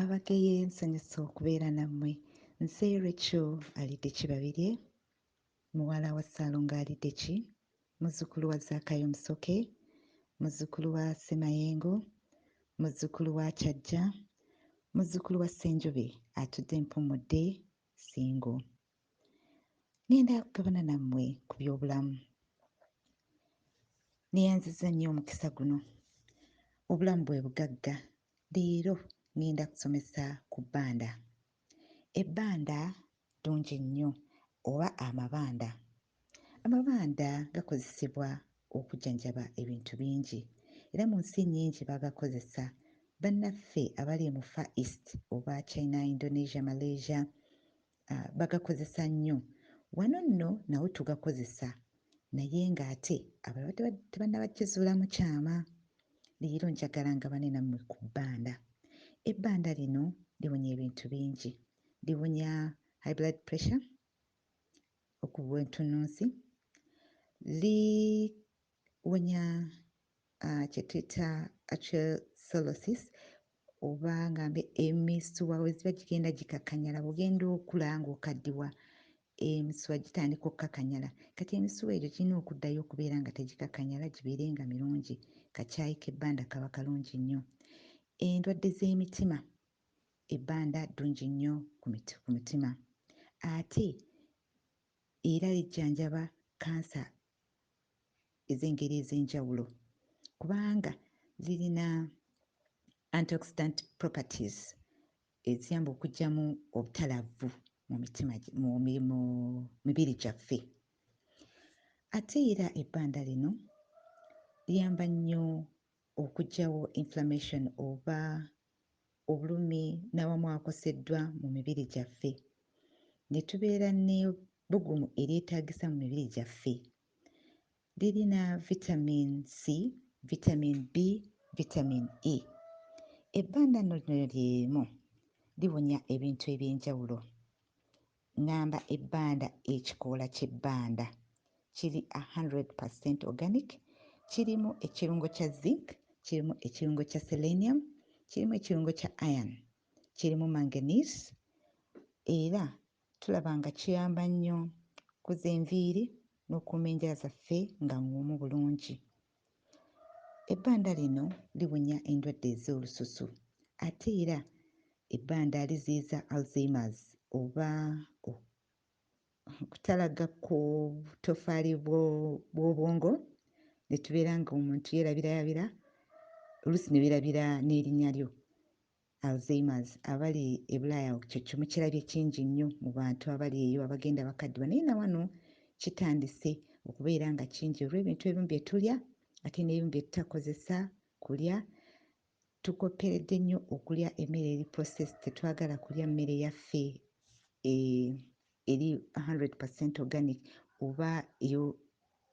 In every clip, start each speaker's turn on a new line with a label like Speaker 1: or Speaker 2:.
Speaker 1: abageye nsanyusa okubeera nammwe nze recho alidde kibabirye muwala wa ssaalongo alidde ki muzzukulu wa zaakayo musoke muzzukulu wa ssemayengo muzzukulu wa kyajja muzzukulu wa ssenjobe atudde mpummudde singo ngenda kugabana nammwe ku by'obulamu neyanziza nnyo omukisa guno obulamu bwe bugagga leero ngenda kusomesa ku bbanda ebbanda ddungi nnyo oba amabanda amabanda gakozesebwa okujjanjaba ebintu bingi era mu nsi nnyingi bagakozesa bannaffe abali mu far east oba china indonesia malaysia bagakozesa nnyo. Wano nno nawo tugakozesa naye ng'ate abalala tebannaba kizuulamu kyama. Leero njagala ngabane nammwe ku bbanda. Ebbanda lino liwonya ebintu bingi. Liwonya high blood pressure, okubwa entunnunsi, li Wonya kye tuyita atrosolosis oba nga emisuwa weziba gigenda gikakanyala bwogenda okula nga okaddiwa emisuwa gitandika okukakanyala kati emisuwa egyo girina okuddayo okubeera nga tegikakanyala gibeere nga mirungi kakyayi k'ebbanda kaba kalungi nnyo endwadde z'emitima ebbanda ddungi nnyo ku mutima ate era lijjanjaba kansa ez'engeri ez'enjawulo kubanga zirina antioxidant properties eziyamba okugyamu obutalavvu mu mitima mu mibiri gyaffe ate era ebbanda lino liyamba nnyo okugyawo inflammation oba obulumi n'awamu akoseddwa mu mibiri gyaffe, ne tubeera n'ebbugumu eryetaagisa mu mibiri gyaffe. Lirina Vitamiini C, Vitamiini B, Vitamiini E. Ebbandanno lino lye limu liwonya ebintu eby'enjawulo. Ngamba ebbanda Ekikoola ky'ebbanda kiri a hundred per cent organic, kirimu ekirungo kya zinc, kirimu ekirungo kya selenium, kirimu ekirungo kya iron, kirimu manganese era tulaba nga kiyamba nnyo kukuza enviiri n'okukuuma enjala zaffe nga ng'omu bulungi. Ebbanda lino liwonya endwadde ez'olususu ate era ebbanda liziyiza Alzheimer's oba okutalagga kw'obutoffaali bw'obwongo ne tubeera ng'omuntu yeerabirayabira oluusi ne weerabira n'erinnya lyo. Alzheimer's abali ebulaaya ekyo kyo mukirabye kingi nnyo mu bantu abali eyo abagenda bakaddiwa naye nawano kitandise okubeera nga kingi olw'ebintu ebimu bye tulya ate n'ebimu bye tutakozesa kulya tukopperedde nnyo okulya emmere eri process tetwagala kulya mmere yaffe e, eri 100 organic oba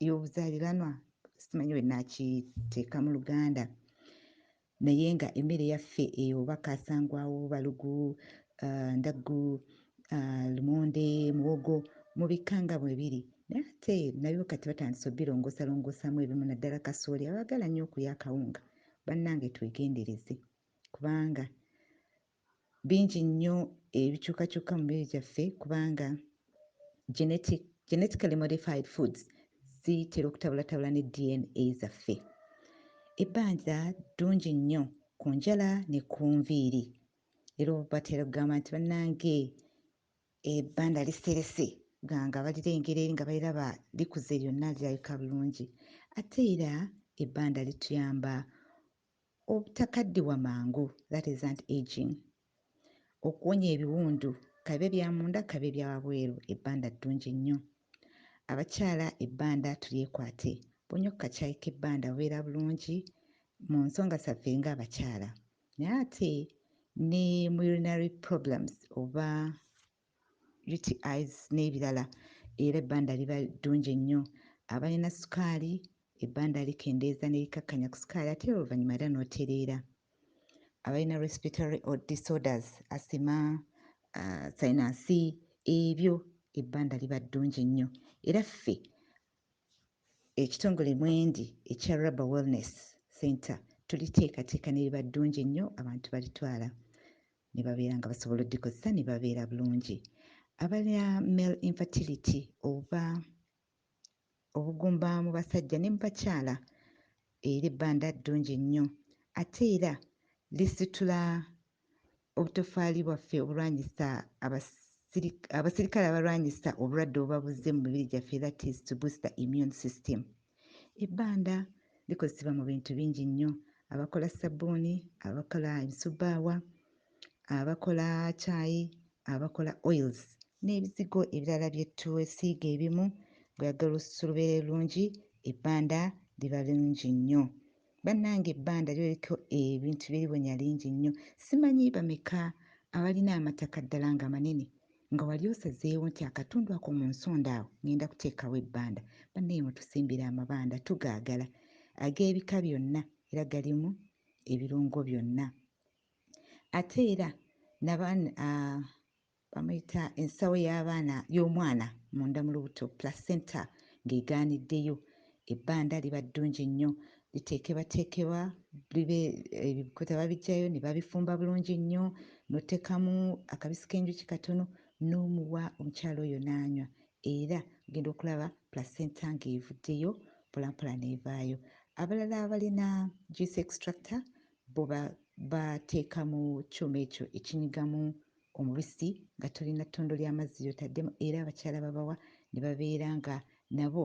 Speaker 1: ey'obuzaaliranwa simanyi bwe naakiteeka mu luganda Naye nga emere yaffe eyo oba kasangwawo, balugu, ndaggu, lumonde, muwogo mubikka nga bwebiri naye ate nabyo kati batandise obilongoosa longoosamu ebimu naddala kasooli abaagala nnyo okulya akawunga bannange twegendereze kubanga bingi nnyo ebikyukakyuka mu mibiri gyaffe kubanga genetic, genetically modified foods zitera okutabulatabula ne dna zaffe ebbanja ddungi nnyo ku njala ne ku nviiri era batera okugamba nti bannange ebbanda liserese ganga balirengera eri nga baliraba likuze lyonna lirabika bulungi ate era ebbanda lituyamba Obutakaddiwa mangu, that is anti-aging, Okuwonya ebiwundu, kabibe bya munda kabibe bya wabweru, ebbanda ddungi nnyo. Abakyala ebbanda tulyekwate, bw'onywa ku kacaayi k'ebbanda obeera bulungi mu nsonga zaffe ng'abakyala naye ate ne mu urinary problems oba UTIs n'ebirala era ebbanda liba ddungi ennyo. Abalina sukaali, ebbanda likendeeza ne likakkanya ku sukaali ate era oluvannyuma era n'otereera. Abalina respiratory disorders, asima, uh, sayinansi, ebyo ebbanda liba ddungi nnyo era ffe ekitongole mwendi ekya rubber wellness center tuliteekateeka ne liba ddungi nnyo abantu balitwala ne babeera nga basobola odikozesa ne babeera bulungi abalina male infertility oba obugumba mu basajja ne mu bakyala era ebbanda ddungi nnyo ate era lisitula obutofaali bwaffe obulwanyisa abasirikale abalwanyisa obulwadde obubabuze mu mibiri gyaffe that is to boost the immune system Ebbanda likozesebwa mu bintu bingi nnyo. Abakola ssabbuuni, abakola emisubbaawa, abakola caayi, abakola oils n'ebizigo ebirala bye twesiiga ebimu bw'oyagala olususu lubeere lulungi ebbanda liba lungi nnyo. Bannange ebbanda liba liriko ebintu bye liwonya lingi nnyo. Simanyi bameka abalina amataka ddala nga manene Nga wali osazeewo nti akatundu ako mu nsonda awo ngenda kuteekawo ebbanda, banaye mutusimbira amabanda tugaagala ag'ebika byonna era galimu ebirungo byonna ate era bamuyita ensawo y'abaana y'omwana munda mu lubuto placenta ng'egaaniddeyo Ebbanda liba ddungi nnyo, liteekebateekebwa libe ebikuta babijjayo ne babifumba bulungi nnyo n'oteekamu akabisi k'enjuki katono n'omuwa omukyala oyo n'anywa era ogenda okulaba placenta ng'evuddeyo mpolampola n'evaayo. Abalala abalina juice extractor bo bateeka mu kyuma ekyo ekinyigamu omubisi nga tolina ttondo lya mazzi ly'otaddemu era abakyala babawa ne babeera nga nabo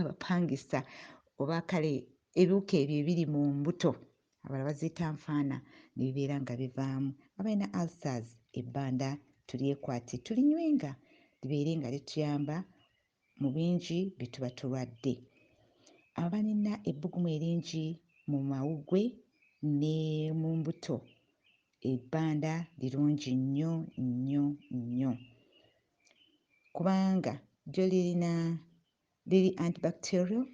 Speaker 1: abapangisa oba kale ebiwuka ebyo ebiri mu mbuto abala baziyita nfaana ne bibeera nga bivaamu abalina ulcers ebbanda tulyekwate tulinywenga libeere nga lituyamba mu bingi bye tuba tulwadde abalina ebbugumu eringi mu mawugwe ne mu mbuto ebbanda lirungi nnyo nnyo nnyo kubanga lyo lirina liri antibacterial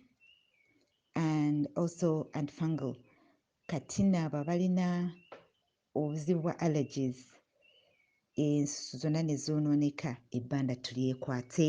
Speaker 1: and also antifungal kati naabo abalina obuzibu bwa allergies ensusu zonna ne zoonooneka ebbanda tulyekwate.